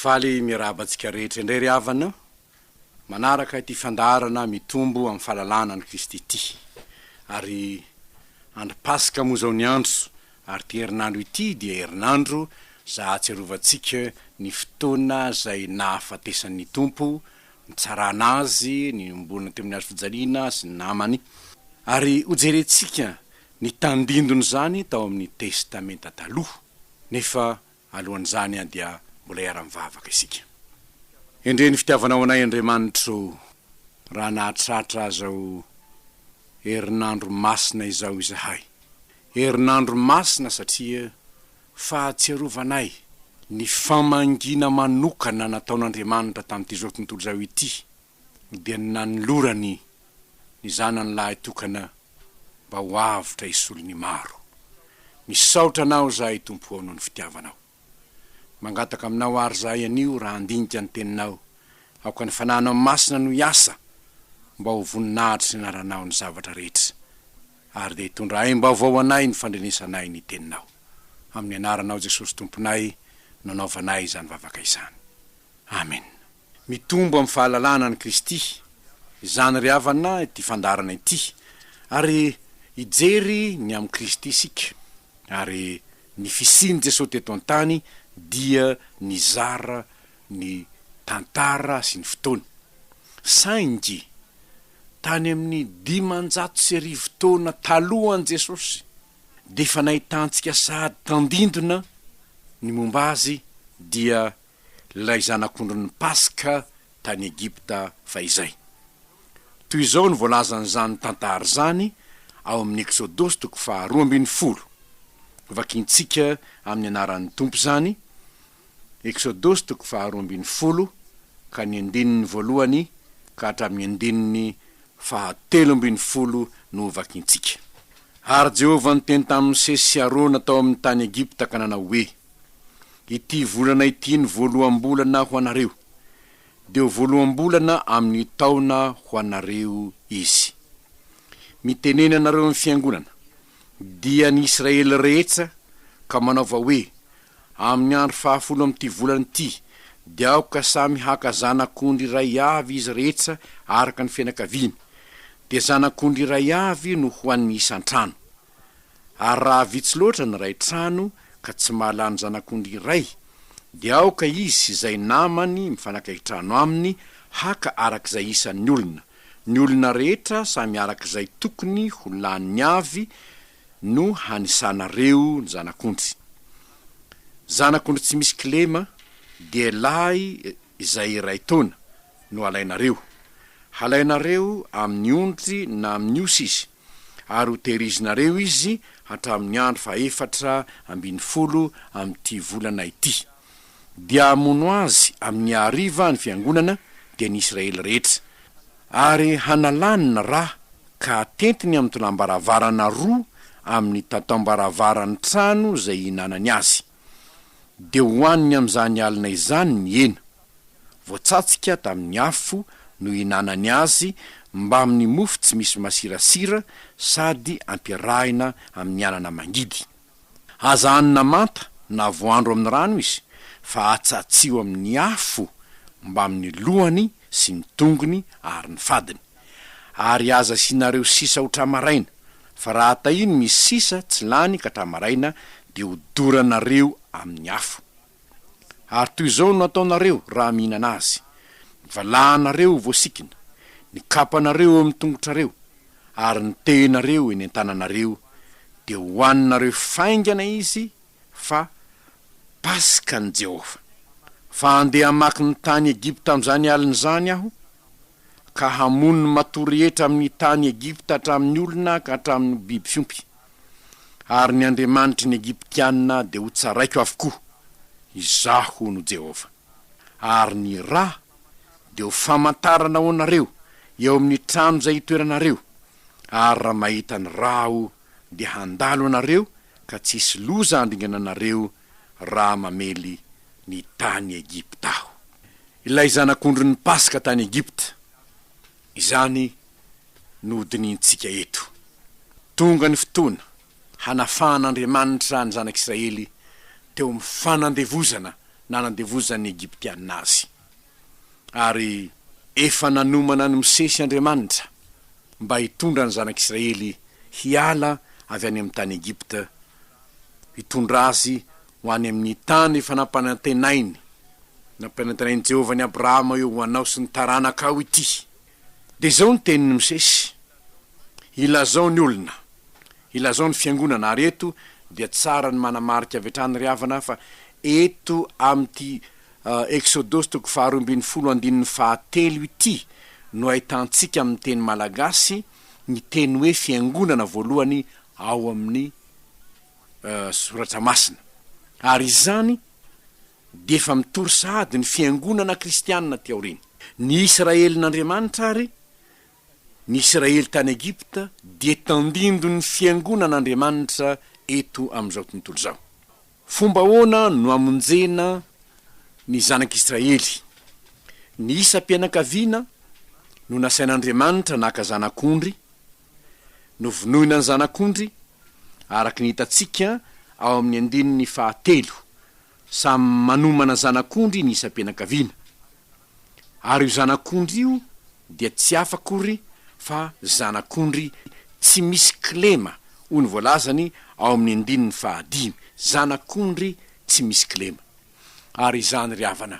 Faly miarahaba antsika rehetra indray ry havana, manaraka ity fandaharana mitombo amin'ny fahalalana an'i Kristy ity. Ary Andro Paska moa izao ny andro, ary ity herinandro ity dia herinandro izay ahatsiarovantsika ny fotoana izay nahafatesan'ny Tompo, nitsarana Azy, ny niombonany teo amin'ny hazofijaliana sy ny namany. Ary hojerentsika ny tandindon'izany tao amin'ny Testamenta Taloha. Nefa Alohan'izany dia mbola hiara-mivavaka isika. Endrey ny fitiavanao anay Andriamanitro o, raha nahatratra izao herinandro masina izao izahay. Herinandro masina satria fahatsiarovanay ny famangiana manokana nataon'Andriamanitra tamin'ity izao tontolo izao ity dia ny nanolorany ny zanany lahy tokana mba ho avotra hisolo ny maro. Misaotra Anao izahay Tompo ao noho ny fitiavanao. Mangataka Aminao àry izahay anio raha handinika ny Teninao, aoka ny Fanahinao Masina no hiasa mba ho voninahitry ny Anaranao ny zavatra rehetra, ary dia hitondra aim-baovao ho anay ny fandrenesanay ny Teninao. Amin'ny Anaranao Jesosy Tomponay no anaovanay izany vavaka izany. Amena. Mitombo amin'ny fahalalahana an'i Kristy, izany ry havana ity fandaharana ity, ary hijery ny amin'i Kristy isika, ary ny fisian'i Jesosy teto an-tany dia nizara ny tantara sy ny fotoana. Saingy tany amin'ny dimanjato sy arivo taona talohan'i Jesosy dia efa nahitantsika sahady tandindona ny momba Azy, dia lay zanak'ondrin'ny Paska tany Egypta fahizay. Toy izao no voalazan'izany tantara izany ao amin'ny Eksodosy toko faharoa ambin'ny folo. Vakintsika amin'ny anaran'ny Tompo izany, Eksodosy toko faharoa ambin'ny folo ka ny andininy voalohany ka hatramin'ny andininy fahatelo ambin'ny folo no hovakintsika. Ary Jehovah niteny tamin'i Mosesy sy Arona tao amin'ny tany Egypta ka nanao hoe. Ity volana ity ny voaloham-bolana ho anareo, dia ho voaloham-bolana amin' ny taona ho anareo izy. Mitenena anareo ny fiangonana, dian' i Israely rehetsa, ka manaova hoe, Amin' ny andro fahafolo amin' ity volana ity dia aoka samy haka zanak' ondry iray avy izy rehetsa araka ny fianakaviany, dia zanak' ondry iray avy no ho an' ny isan-trano. Ary raha vitsy loatra ny ray trano ka tsy mahalany zanak'ondry iray, dia aoka izy sy izay namany mifanakaiky trano aminy haka araka izay isan'ny olona, ny olona rehetra samy araka izay tokony ho laniny avy no hanisanareo ny zanak'ondry. Zanak'ondry tsy misy kilema, dia lahy izay iray taona, no alainareo. Halainareo amin'ny ondry na amin'ny osy izy. ary ho tehirizinareo izy hatramin'ny andro fahefatra ambin'ny folo amin'ity volana ity. Dia hamono azy amin'ny hariva ny fiangonana, dia ny Israely rehetra. Ary hanalany ny ra ka hatentiny amin'ny tolam-baravarana roa amin'ny tataom-baravaran'ny trano izay ihinanany azy. Dia ho haniny amin'izany alina izany ny hena, voatsatska tamin'ny afo nohinanany azy mbamin'ny mofo tsy misy masirasira sady ampiarahina amin'ny anana mangidy. Aza hanina manta na voandro amin'ny rano izy fa atsatsio amin'ny afo mbamin'ny lohany sy ny tongony ary ny fadiny. Ary aza asianareo sisa ho tra-maraina, fa raha tahiny misy sisa tsy lany ka tra-maraina dia ho doranareo amin'ny afo. Ary toy izao no ataonareo raha mihinana azy, ny valahanareo ho voasikina, ny kapanareo eo amin'ny tongotrareo, ary ny tehinareo eny an-tananareo, dia hohaninareo faingana izy, fa Paskan'i Jehovah. Fa handeha hamaky ny tany Egypta amin'izany alina izany aho, ka hamono ny matoa rehetra amin'ny tany Egypta hatramin'ny olona ka hatramin'ny biby fiompy. Ary ny andriamanitry ny Egyptiana dia hotsaraiko avokoa. Izaho no Jehovah. Ary ny ra dia ho famantarana ho anareo eo amin'ny trano izay itoeranareo, ary raha mahita ny ra aho, dia handalo anareo ka tsy hisy loza handringana anareo raha mamely ny tany Egypta aho. Ilay zanak'ondrin'ny Paska tany Egypta. Izany no hodinihintsika eto. Tonga ny fotoana hanafahan'Andriamanitra ny zanak'Israely teo amin'ny fanandevozana nanandevozan'ny Egyptiana azy. Ary efa nanomana an'i Mosesy Andriamanitra. mba hitondra ny zanak'Israely hiala avy any amin'ny tany Egypta, hitondra azy ho any amin'ny tany efa nampanantenainy, nampanantenain'i Jehovah an'i Abrahama hoe, Ho anao sy ny taranakao ity. Dia izao ny tenin'i Mosesy, Ilazao ny olona, ilazao ny fiangonana, ary eto dia tsara ny manamarika avy hatrany ry havana fa eto amin'ity Eksodosy toko faharoa ambin'ny folo andininy fahatelo ity no ahitantsika amin'ny teny malagasy ny teny hoe fiangonana voalohany ao amin'ny Soratra Masina. Ary izany dia efa mitory sahady ny fiangonana kristianina aty aoriana. Ny Isiraelin'Andriamanitra àry Ny Israely tany Egypta dia tandindon' ny Fiangonan' Andriamanitra eto amin' izao tontolo izao. Fomba ahoana no amonjena ny Zanak' Israely? Ny isam-pianakaviana no nasain' Andriamanitra naka zanak' ondry, novonoina ny zanak' ondry, araka ny hitantsika ao amin' ny andininy fahatelo. Samy manomana zanak' ondry ny isam-pianakaviana. Ary io zanak'ondry io dia tsy hafa akory fa zanak'ondry tsy misy kilema, hoy ny voalazany ao amin'ny andininy fahadimy, zanak'ondry tsy misy kilema. Ary izany, ry havana,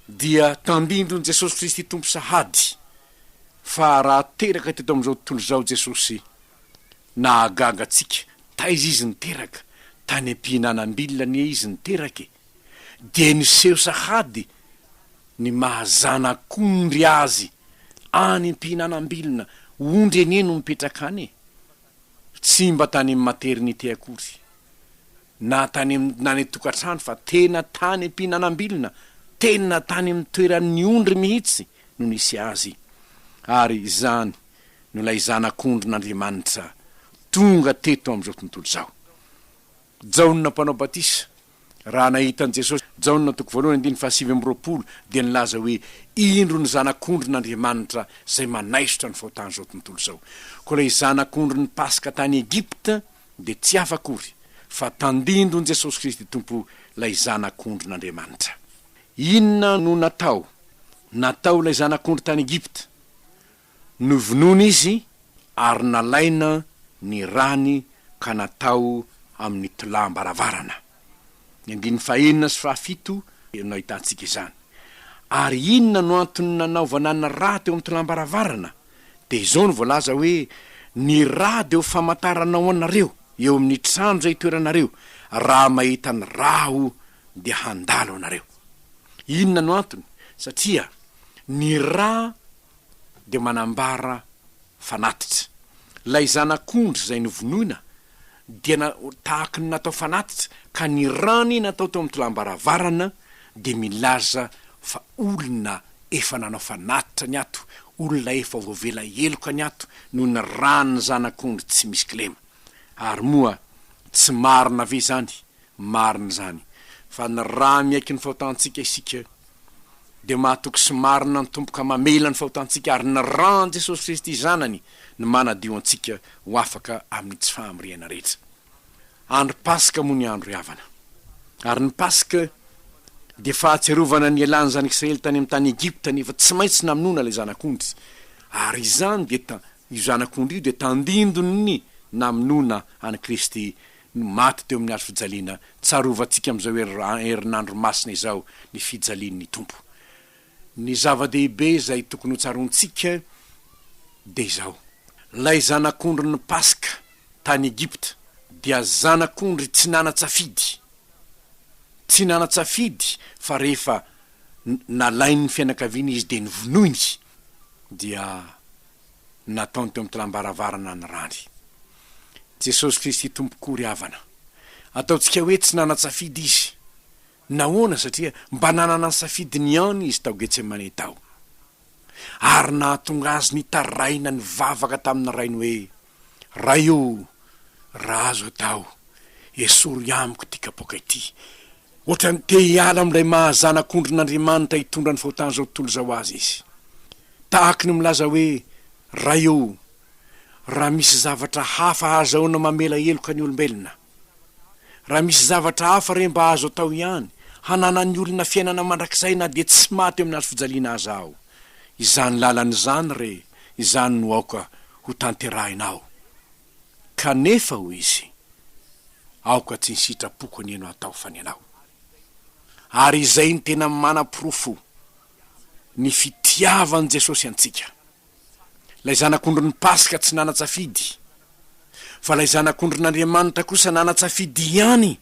dia tandindon'i Jesosy Kristy Tompo sahady, fa raha teraka teto amin'izao tontolo izao Jesosy, nahagaga antsika, taiza Izy niteraka? Tany am-pihinanam-bila anie Izy niteraka e! dia niseho sahady ny maha zanak'ondry azy any am-pihinanam-bilona, ondry anie no mipetraka any e! tsy mba tany amin'ny maternité akory, na tany na any an-tokantrano fa tena tany am-pihinanam-bilona, tena tany amin'ny toeran'ny ondry mihitsy no nisy azy, ary izany no ilay zanak'ondrin'Andriamanitra tonga teto amin'izao tontolo izao. Jaona Mpanao Batisa, Raha nahita an'i Jesosy, Jaona toko voalohany andininy fahasivy amby roapolo dia nilaza hoe, Indro ny Zanak'ondrin'Andriamanitra izay manaisotra ny fahotan'izao tontolo izao. Koa ilay Zanak'ondrin'ny Paska tany Egypta dia tsy hafa akory fa tandindon'i Jesosy Kristy Tompo, ilay Zanak'ondrin'Andriamanitra. Inona no natao natao ilay Zanak'ondry tany Egypta? Novonoina izy ary nalaina ny rany ka natao amin'ny tolam-baravarana. Ny andininy fahenina sy fahafito no ahitantsika izany. Ary inona no antony nanaovana ny rà teo amin'ny tolam-baravarana? Dia izao no voalaza hoe, Ny rà dia ho famantarana ho anareo eo amin'ny trano izay itoeranareo, raha mahita ny rà aho dia handalo anareo. Inona no antony? Satria ny rà. dia manambara fanatitra. Ilay zanak'ondry izay novonoina dia na, tahaka ny natao fanatitra, ka ny rany natao teo amin'ny tolam-baravarana dia milaza fa olona efa nanao fanatitra ny ato, olona efa voavela heloka ny ato noho ny ran'ny zanak'ondry tsy misy kilema. Ary moa tsy marina ve izany? Marina izany, fa ny ra miaiky ny fahotantsika isika, dia mahatoky sy marina ny Tompo ka mamela ny fahotantsika, ary ny ran'i Jesosy Kristy Zanany no manadio antsika ho afaka amin'ny tsy fahamriana rehetra. Andro Paska moa ny andro havana. Ary ny Paska dia fahatsiarovana ny ialan'ny Zanak'Israely tany amin'ny tany Egypta, nefa tsy maintsy namonoana ilay Zanak'ondry, ary izany dia ta, io Zanak'ondry io dia tandindon'ny namonoana an'i Kristy no maty teo amin'ny hazo fijaliana, tsarovantsika amin'izao herinandro masina izao ny fijalian'ny Tompo. Ny zava-dehibe izay tokony ho tsaroantsika dia izao, ilay Zanak'ondrin'ny Paska tany Egypta dia Zanak'ondry tsy nanan-tsafidy, tsy nanan-tsafidy fa rehefa nalain'ny fianakaviana Izy dia novonoiny dia nataony teo amin'ny tlam-baravarana ny rany. Jesosy Kristy Tompoko ry havana, ataontsika hoe tsy nanan-tsafidy Izy. Nahoana? Satria mba nanana ny safidiny ihany Izy tao Getsemane tao. Ary nahatonga Azy nitaraina nivavaka tamin'ny Rainy hoe, Ray o, raha azo atao, esory amiko ity kapoaka ity. Ohatran'ny te hiala amin'ilay maha zanak'ondrin'Andriamanitra hitondra ny fahotan'izao tontolo izao azy izy. Tahaka ny milaza hoe, Ray ô, raha misy zavatra hafa ahazahoana mamela heloka ny olombelona! Raha misy zavatra hafa re mba azo atao ihany, hananan'ny olona fiainana mandrakizay na dia tsy maty eo amin'ny hazo fijaliana aza aho! Izany lalana izany re, izany no aoka hotanterahinao! Kanefa, hoy izy, aoka tsy ny sitrapoko anie no hatao fa ny anao. Ary izay no tena manaporofo ny fitiavan'i Jesosy antsika. Ilay Zanak'ondrin'ny Paska tsy nanan-tsafidy, fa ilay Zanak'ondrin'Andriamanitra kosa nanan-tsafidy ihany,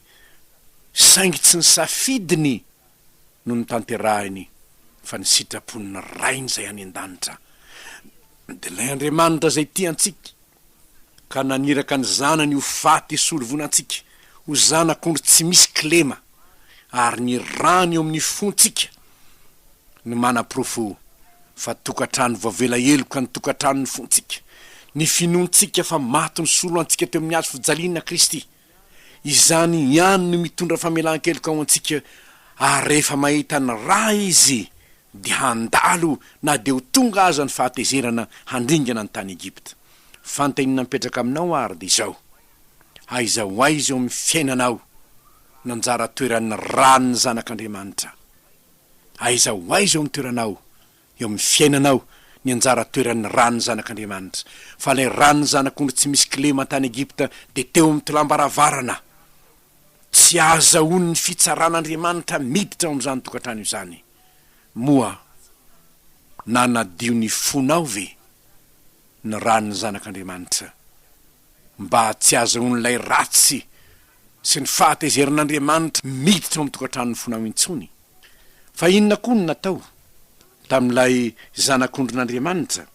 saingy tsy ny safidiny no notanterahiny fa ny sitrapon'ny Rainy izay any an-danitra. Dia ilay Andriamanitra izay tia antsika. ka naniraka ny Zanany ho faty hisolo vono antsika ho zanak'ondry tsy misy kilema, ary ny Rany eo amin'ny fontsika no manaporofo fa tokantrano voavela heloka ny tokantranon'ny fontsika, ny finoantsika fa maty nisolo antsika teo amin'ny hazo fijaliana Kristy. Izany ihany no mitondra famelan-keloka ho antsika ary rehefa mahita ny Ra Izy dia handalo na dia ho tonga aza ny fahatezerana handringana ny tany Egypta. Fanontaniana mipetraka aminao ary dia izao, Aiza ho aiza eo amin'ny fiainanao no anjara toeran'ny Ra ny Zanak'Andriamanitra? Aiza ho aiza eo amin'ny toeranao eo amin'ny fiainanao ny anjara toeran'ny ran'ny zanak'Andriamanitra, fa ilay ran'ny zanak'ondry tsy misy kilema tany Egypta dia teo amin'ny tolam-baravarana. Tsy ahazahoan'ny fitsaran'Andriamanitra miditra ao amin'izany tokantrano izany. Moa nanadio ny fonao ve ny ran'ny zanak'Andriamanitra? mba tsy hahazoan'ilay ratsy sy ny fahatezerin'Andriamanitra miditra ao amin'ny tokantranon'ny fonao intsony. Fa inona koa no natao tamin'ilay Zanak'ondrin'Andriamanitra?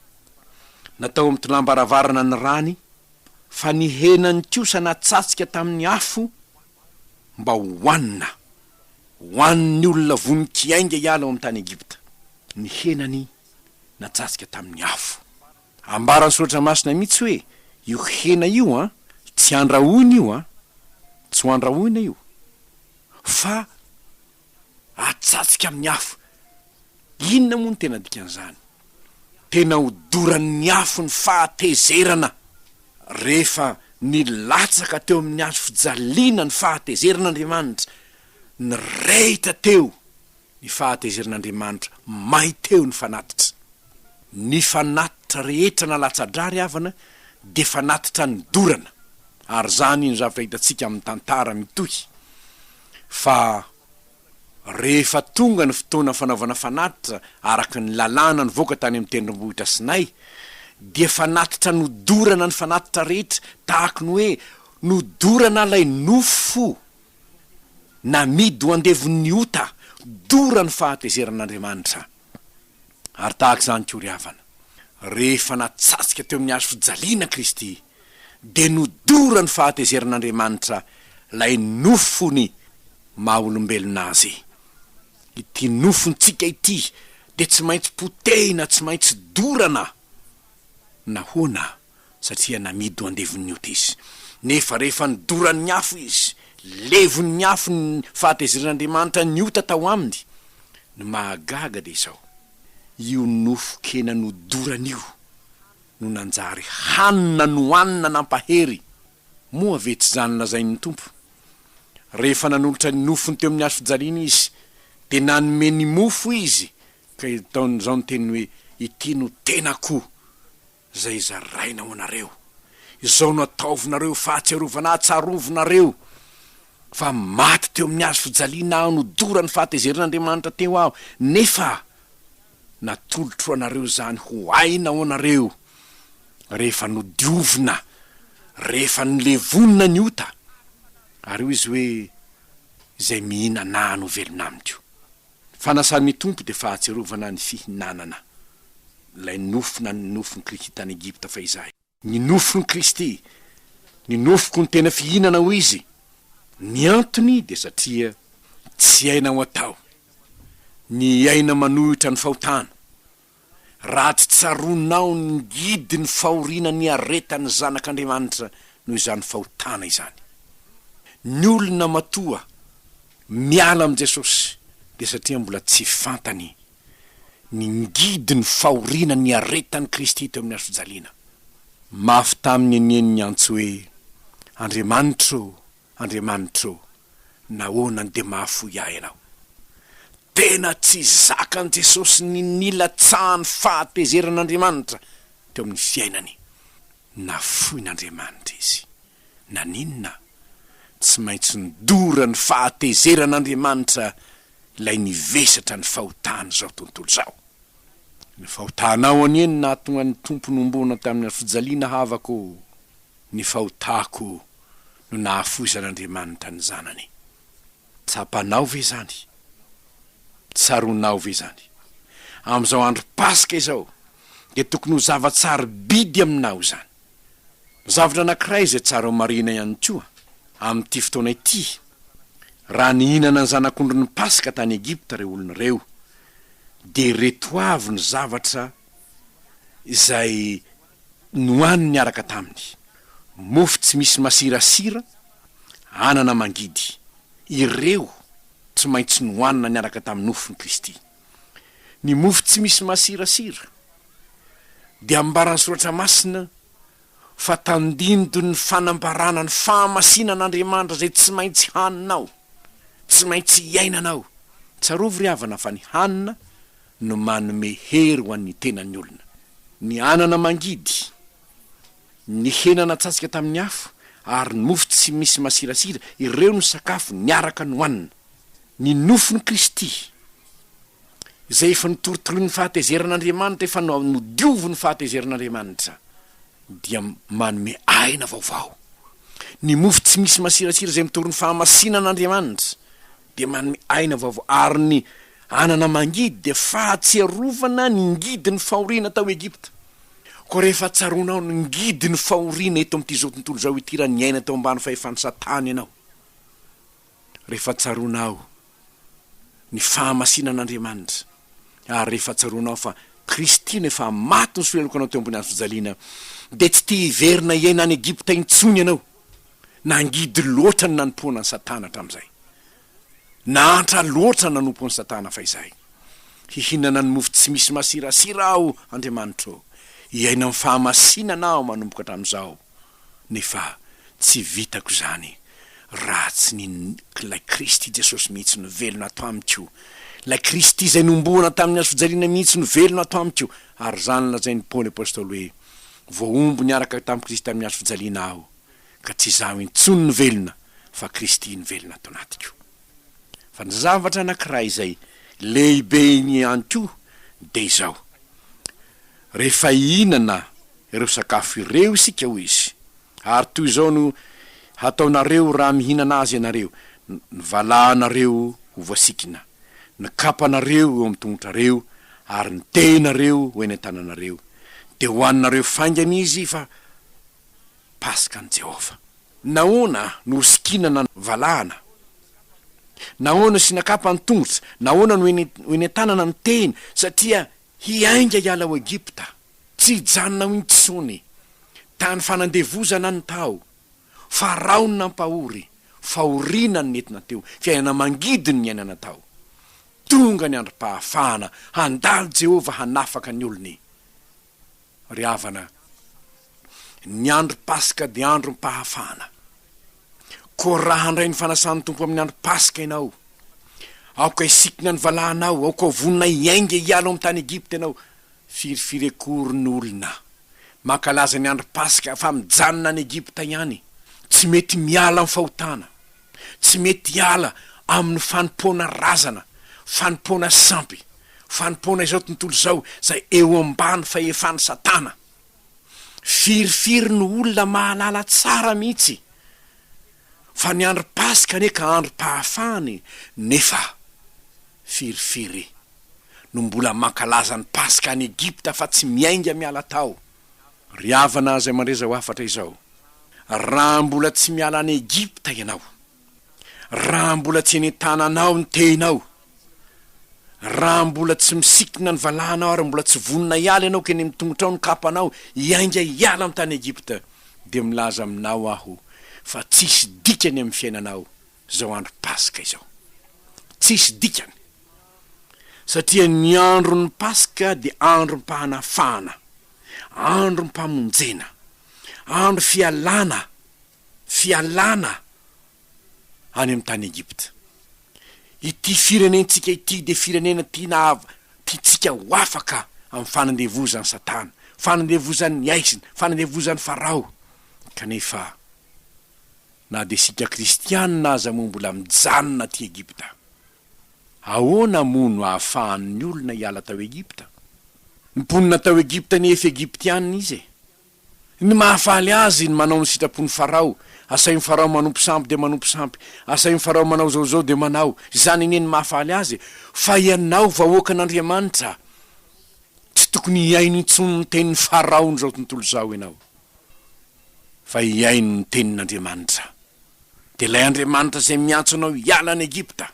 Natao mitolambaravarana ny rany, fa ny henany kosa natsatska tamin'ny afo mba hohanina. Hohanin'ny olona vonon-kiainga hiala ao amin'ny tany Egypta ny henany natsatska tamin'ny afo. Ambaran'ny Soratra Masina mihitsy hoe io hena io an, tsy andrahoina io an, tsy ho andrahoina io, fa atsatsika amin'ny afo. Inona moa no tena dikan'izany? Tena hodoran'ny afo ny fahatezerana. Rehefa nilatsaka teo amin'ny hazo fijaliana ny fahatezeran'Andriamanitra, nirehitra teo. Ny fahatezeran'Andriamanitra may teo ny fanatitra. Ny fanatitra rehetra na latsa-dra ry havana dia fanatitra nidorana ary izany no zavatra hitantsika amin'ny tantara mitohy fa rehefa tonga ny fotoana fanaovana fanatitra araka ny lalàna nivoaka tany amin'ny tendrombohitra Sinay dia fanatitra nodorana ny fanatitra rehetra tahaky ny hoe nodorana ilay nofo Namidy ho andevon'ny ota dora ny fahatezeran'Andriamanitra. Ary tahaka izany koa ry havana, rehefa natsatska teo amin'ny hazo fijaliana Kristy, dia nodora ny fahatezeran'Andriamanitra ilay nofony maha olombelona Azy. Ity nofontsika ity dia tsy maintsy potehina, tsy maintsy dorana. Nahoana? satria namidy ho andevon'ny Otesy. Nefa rehefa nodoran'ny afo izy, levon'ny afo ny fahatezeran'Andriamanitra ny ota tao aminy. Ny mahagaga dia izao, io nofon-kena nodorany io no nanjary hanina nohanina nampahery, moa ve tsy izany lazain'ny Tompo? Rehefa nanolotra ny nofony teo amin'ny hazo fijaliana izy, dia nanome ny mofo izy, ka izao ny teny hoe, Ity no tenako. Izay zaraina ho anareo. Izao no ataovinareo fahatsiarovana ahatsiarovinareo fa maty teo amin'ny hazo fijaliana aho nodora ny fahatezerin'Andriamanitra teo aho, nefa natolotro ho anareo izany ho aina ho anareo rehefa nodiovina, rehefa nolevonina ny ota. Ary hoy izy hoe, Izay mihinana ahy no velona amiko. Ny fanasan'ny Tompo dia fahatsiarovana ny fihinanana ilay nofo na ny nofon'i Kristy tany Egypta fahizay. Ny nofon'i Kristy, ny nofoko no tena fihinana hoy Izy. Ny antony dia satria tsy aina ho atao ny aina manohitra ny fahotana. raha tsy tsaroanao ny ngidy ny fahoriana niaretan'ny zanak'Andriamanitra noho izany fahotana izany. Ny olona matoa miala amin'i Jesosy dia satria mbola tsy fantany ny ngidy ny fahoriana niaretan'i Kristy teo amin'ny hazofijaliana. Mafy taminy anie ny niantso hoe, Andriamanitra ô! Andriamanitra ô, nahoana dia mahafoy ahy Ianao? Tena tsy zakan'i Jesosy ny nilatsahan'ny fahatezeran'Andriamanitra teo amin'ny fiainany. Nafoin'Andriamanitra izy. Naninona? Tsy maintsy nidora ny fahatezeran'Andriamanitra ilay nivesatra ny fahotan'izao tontolo izao. Ny fahotanao anie no nahatonga ny Tompo nohomboana tamin'ny hazofijaliana havako ô. Ny fahotako no nahafoizan'Andriamanitra ny Zanany. Tsapanao ve izany? Tsaroanao ve izany? Amin'izao andro Paska izao dia tokony ho zava-tsarobidy aminao izany. Zavatra anankiray izay tsara homarihina ihany koa amin'ity fotoana ity, raha nihinana ny zanak'ondrin'ny Paska tany Egypta ireo olona ireo, dia ireto avy ny zavatra izay Nohaniny niaraka taminy. Mofo tsy misy masirasira, anana mangidy. Ireo tsy maintsy nohanina niaraka tamin'ny nofon'i Kristy. Ny mofo tsy misy masirasira dia ambaran'ny Soratra Masina fa tandindon'ny fanambarana ny fahamasinan'Andriamanitra izay tsy maintsy haninao, tsy maintsy iainanao. Tsarovy ry havana fa ny hanina no manome hery ho an'ny tenan'ny olona. Ny anana mangidy, ny hena natsasika tamin'ny afo, ary ny mofo tsy misy masirasira, ireo no sakafo niaraka nohanina. Ny nofon'i Kristy, izay efa notorotoroin'ny fahatezeran'Andriamanitra, efa nodioviny fahatezeran'Andriamanitra, dia manome aina vaovao. Ny mofo tsy misy masirasira izay mitory ny fahamasinan'Andriamanitra, dia manome aina vaovao, ary ny anana mangidy dia fahatsiarovana ny ngidin'ny fahoriana tao Egypta. Koa rehefa tsaroanao ny ngidin'ny fahoriana eto amin'ity izao tontolo izao ity raha niaina tao ambany fahefan'i Satana ianao, rehefa tsaroanao ny fahamasinan'Andriamanitra, ary rehefa tsaroanao fa Kristy no efa maty nisolelaka anao teo ambony hazofijaliana, dia tsy te hiverina hiaina any Egypta intsony ianao. Nangidy loatra ny nanompoana an'i Satana hatramin'izay. Nahantra loatra ny nanompo an'i Satana fahizay. Hihinana ny mofo tsy misy masirasira aho, Andriamanitro. Hiaina amin'ny fahamasinana aho manomboka hatramin'izao. Nefa tsy vitako izany raha tsy ny Ilay Kristy Jesosy mihitsy no velona ato amiko. Ilay Kristy izay nohomboana tamin'ny hazofijaliana mihitsy no velona ato amiko. Ary izany lazain'i Paoly Apostoly hoe, Voahombo niaraka tamin'i Kristy tamin'ny hazo fijaliana aho, ka tsy izaho intsony no velona, fa Kristy no velona ato anatiko. Fa ny zavatra anankiray izay lehibe ihany koa dia izao, Rehefa hihinana ireo sakafo ireo isika, hoy izy, ary toy izao no hataonareo raha mihinana azy ianareo, ny valahanareo ho voasikina. ny kapanareo eo amin'ny tongotrareo ary ny tehinareo ho eny an-tananareo, dia hohaninareo faingana izy fa Paska an'i Jehovah. Nahoana no ho sikinana ny valahana? Nahoana no siana kapa ny tongotra? Nahoana no ho eny an-tanana ny tehina? Satria hiainga hiala ao Egypta. Tsy hijanona ao intsony. Tany fanandevozana ny tao. Farao no nampahory. Fahoriana ny nentina teo, fiainana mangidy ny niainana tao. Tonga ny androm-pahafahana, handalo Jehovah hanafaka ny olony. Ry havana, ny andro Paska dia androm-pahafahana. Koa raha handray ny fanasan'ny Tompo amin'ny andro Paska ianao, aoka hisikinao ny valahanao, aoka ho vonona hiainga hiala ao amin'ny tany Egypta ianao, Firifiry akory ny olona mankalaza ny andro paska fa mijanona any Egypta ihany, tsy mety miala amin'ny fahotana, tsy mety hiala amin'ny fanompoana razana, fanompoana sampy, fanompoana izao tontolo izao izay eo ambany fahefan'i Satana. Firifiry ny olona mahalala tsara mihitsy fa ny andro paska anie ka androm-pahafahany nefa firifiry no mbola mankalaza ny Paska any Egypta fa tsy miainga miala tao. Ry havana izay mandre izao hafatra izao, raha mbola tsy miala any Egypta ianao, raha mbola tsy eny an-tananao ny tehinao, raha mbola tsy misikina ny valahanao ary mbola tsy vonona hiala ianao ka eny amin'ny tongotrao ny kapanao hiainga hiala ny tany Egypta, dia milaza aminao aho fa tsisy dikany amin'ny fiainanao izao andro Paska izao. Tsisy dikany. satria ny andron'ny Paska dia androm-pahanafahana, androm-pamonjena, andro fialana, fialana any amin'ny tany Egypta. Ity firenentsika ity dia firenena tiana av- tiantsika ho afaka amin'ny fanandevozan'i Satana, fanandevozan'ny aizina, fanandevozan'i Farao. Kanefa, na dia isika Kristianina aza moa mbola mijanona aty Egypta. Ahoana moa no ahafahan'ny olona hiala tao Egypta? Ny mponina tao Egypta nefy Egyptiana izy e! Ny mahafaly azy ny manao ny sitrapon'i Farao, asain'i Farao manompo sampy dia manompo sampy, asain'i Farao manao izao izao dia manao, izany anie ny mahafaly azy e! Fa ianao vahoakan'Andriamanitra, tsy tokony hihaino intsony ny tenin'i Farao n'izao tontolo izao ianao. fa hihaino ny tenin'Andriamanitra. Dia ilay Andriamanitra izay miantso anao hiala any Egypta,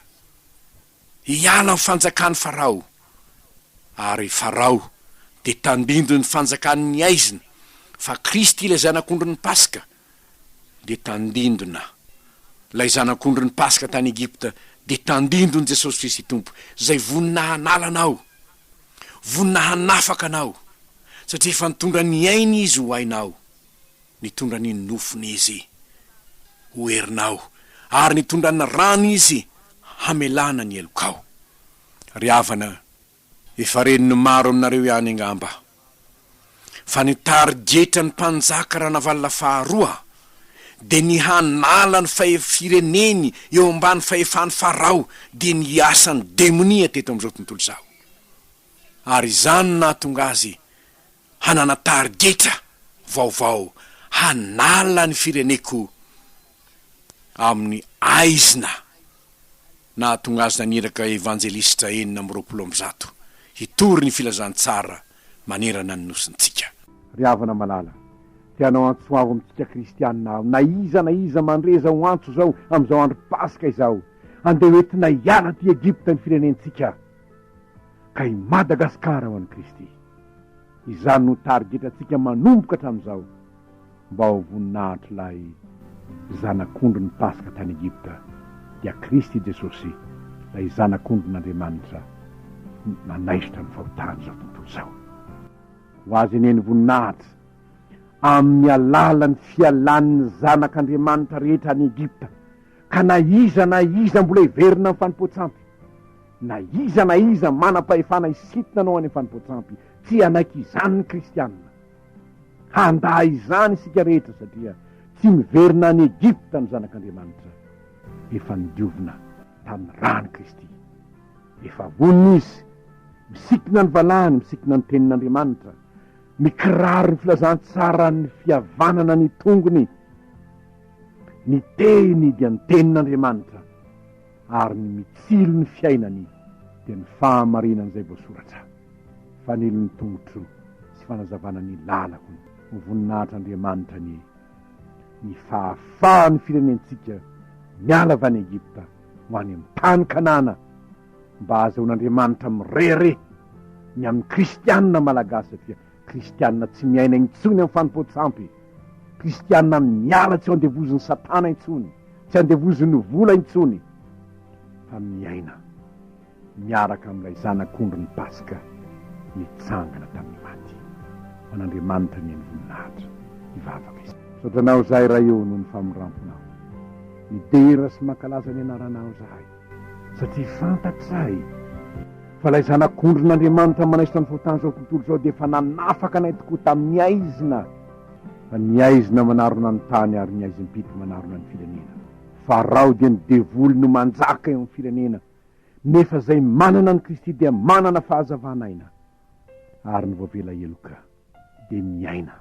hiala amin'ny fanjakan'i Farao, ary Farao dia tandindon'ny fanjakany ny haizina, fa Kristy ilay Zanak'ondrin'ny Paska dia tandindona. Ilay Zanak'ondrin'ny Paska tany Egypta dia tandindon'i Jesosy Kristy Tompo, izay vonona hanala anao. Vonona hanafaka anao, satria efa nitondra ny ainy Izy ho ainao, nitondra ny nofony Izy ho herinao, ary nitondra ny rany Izy hamelana ny helokao. Ry havana, efa ren'ny maro aminareo ihany angamba. fa ny tarigetra ny mpanjaka Ranavalona faharoa dia ny hanala ny fireneny eo ambany fahefan'i Farao dia ny hiasan'ny demonia teto amin'izao tontolo izao. Ary izany no nahatonga azy hanana tarigetra vaovao hanala ny fireneko amin'ny aizina nahatonga azy naniraka Evanjelisitra enina amby roapolo amby zato hitory ny filazantsara manerana ny nosintsika. Ry havana malala, te hanao antso avo amintsika kristianina aho, na iza na iza mandre zao antso zao amizao andro paska izao, andeha ho entina hiala aty Egypta ny firenentsika, ka i Madagascar ho an'i Kristy. Izany no tarigetra tsika manomboka hatramizao. Mba ho voninahitr'ilay Zanak'ondry ny Paska tany Egypta, dia Kristy Jesosy, ilay Zanak'ondrin'Andriamanitra, nanaisotra ny fahotan'izao tontolo izao. Ho Azy anie ny voninahitra, amin'ny alalan'ny fialan'ny zanak'Andriamanitra rehetra any Egypta, ka na iza na iza mbola hiverina amin'ny fanompoan-tsampy, na iza na iza manam-pahefana hisintona anao any amin'ny fanompoan-tsampy, tsy hanaiky izany ny Kristiana. Handà izany isika rehetra satria tsy miverina any Egypta ny zanak'Andriamanitra. Efa nodiovina tamin'ny ran'i Kristy. Efa vonona izy. Misikina ny valahany, misikina ny tenin'Andriamanitra. Mikiraro ny filazantsaran'ny fihavanana ny tongony. Ny teny dia ny tenin'Andriamanitra ary ny mitsilo ny fiainany dia ny fahamarinan'izay voasoratra. Fanilo ny tongotro sy fanazavana ny lalako ny. Ho voninahitr'Andriamanitra anie ny fahafahan'ny firenentsika miala avy any Egypta ho any amin'ny tany Kanana mba hahazahoan'Andriamanitra mirehareha ny amin'ny kristianina malagasy satria kristianina tsy miaina intsony amin'ny fanompoan-tsampy, kristianina miala tsy ho andevozin'i satana intsony, tsy andevozin'ny vola intsony fa miaina. miaraka amin'ilay Zanak'ondrin'ny Paska nitsangana tamin'ny maty. Ho an'Andriamanitra anie ny voninahitra! Hivavaka isika. Misaotra Anao zahay Ray ô noho ny famindramponao. Midera sy mankalaza ny Anaranao zahay satria fantatray fa ilay Zanak'ondrin'Andriamanitra manaisotra ny fotan'izao tontolo izao dia efa nanafaka anay tokoa tamin'ny aizina, fa ny aizina manarona ny tany ary ny aizim-pito manarona ny firenena. Farao dia ny devoly no manjaka eo amin'ny firenena. nefa izay manana an'i Kristy dia manana fahazavan'aina, ary ny voavela heloka dia miaina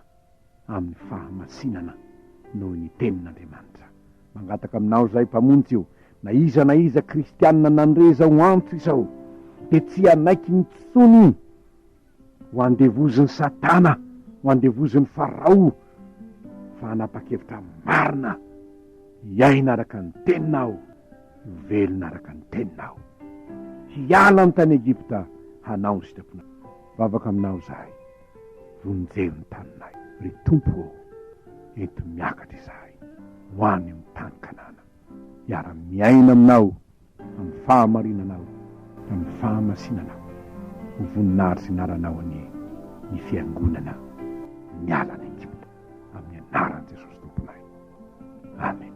amin'ny fahamasinana noho ny Tenin'Andriamanitra. Mangataka aminao izahay, Mpamonjy o, na iza na iza kristiana nandre izao antso izao, dia tsy hanaiky intsony, Ho andevozin'i Satana, ho andevozin'i Farao, fa hanapa-kevitra marina hiaina araka ny Teniny aho, hivelona araka ny Teniny aho. Hiala ny tany Egypta hanao ny sitraponao. Mivavaka aminao izahay. Vonjeo ny taninay. Ry Tompo ô, ento miakatra izahay ho any amin'ny tany Kanana, hiara-miaina aminao Amin'ny fahamarinanao, amin'ny fahamasinanao, ho voninahitry ny anaranao anie ny fiangonana miala any Egypta, amin'ny anaran'i Jesosy Tomponay. Amen.